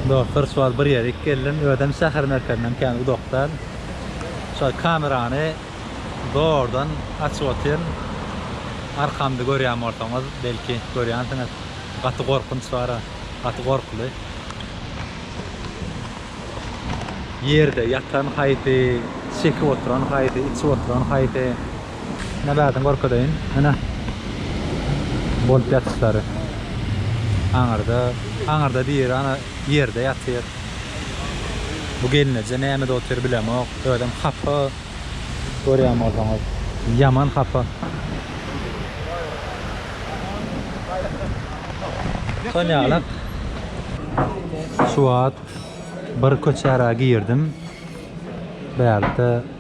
Dostlar şuwagt bir ýerik geldim. Özem şäher merkezinden kän uzakdan. Şol kamerany zordan açyp otyryn. Arkamda görýän bolsaňyz, belki görýänsiňiz. Gaty gorkunç bar-a. Gaty gorkuly. Ýerde ýatan haýsy, çekip oturan haýsy, içip oturan haýsy. Ine bärden görkezeýin. Ine. Bolup ýatyşlary. Aňyrda, aňyrda biri ana ýerde ýatyr. Bu gelneje nämede otyr bilemok. Özem hapa. Görýän bolsaňyz. Ýaman hapa. Şol ýalak. Şu wagt bir köçä-ra girdim. Bärde.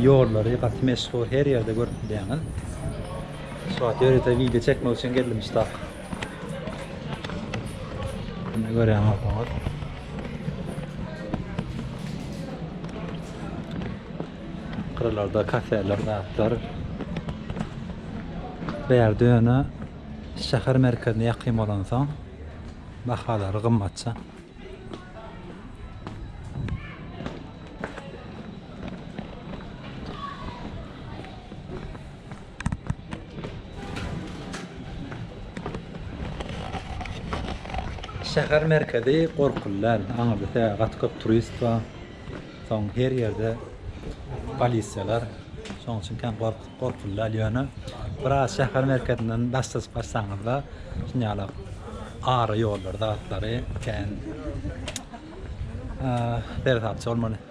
Ýollary gaty meşhur her ýerde görüp bilýäňiz. Şu wagt ýörite wideo çekmek üçin geldim muştak. Indi görýän bolsaňyz. Gyralarda kafeler, zatlar. Bärde ýöne şäher merkezine ýakyn bolansoň bahalary gymmatja. Şäher merkezi gorkuly däl. Aňyrda tä gaty köp turist bar. Soň her ýerde polisiýalar. Şoň üçin kän gork gorkuly däl ýöne biraz şäher merkezinden daşda barsaňyzda şuny ýaly ara ýollar zatlary kän eee perzatçy bolmaly.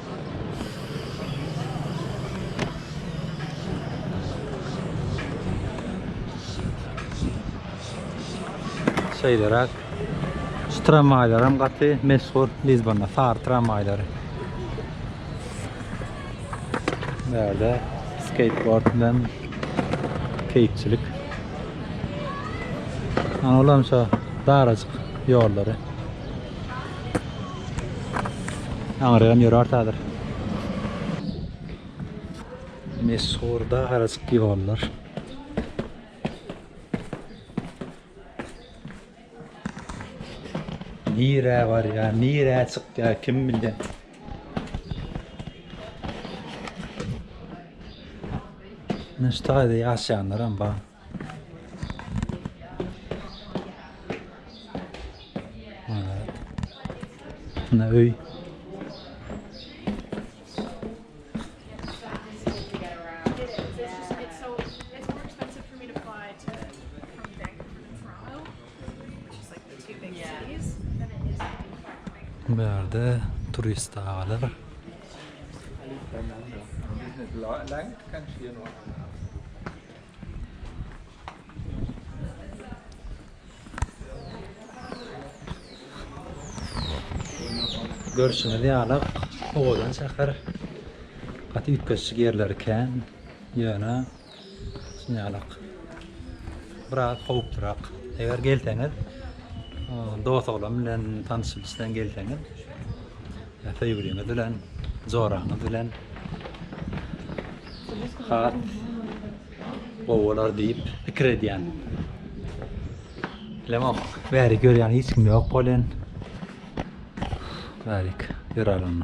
Şeýleräk. Şu tramwaýlar hem gaty meşhur Lisbonda sary tramwaýlary. Bärde skateboard bilen keýikçilik. Ana olam şu darajyk ýollary. Aňyragam ýörärdi häzir. Meşhur da harajyk ýollar. Nirä barýar, nirä çykýar kim bilýär. Näştaýda ýaşaýanlaram bar. Ana öy. Bu yerde turist ağalar. Like, Görşüňiz ýaly, owadan şäher. Gaty üýtgeşik ýerleri kän. Ýöne şuny ýaly biraz howplurak. Eger gelseňiz, dost-oglan bilen tanyşyp isleň gelseňiz. Söýgüliňiz bilen, joraňyz bilen has gowy bolar diýip pikir edýän. Bilemok, bäri görýän hiç kim ýok bolen. Bärik, ýörälim.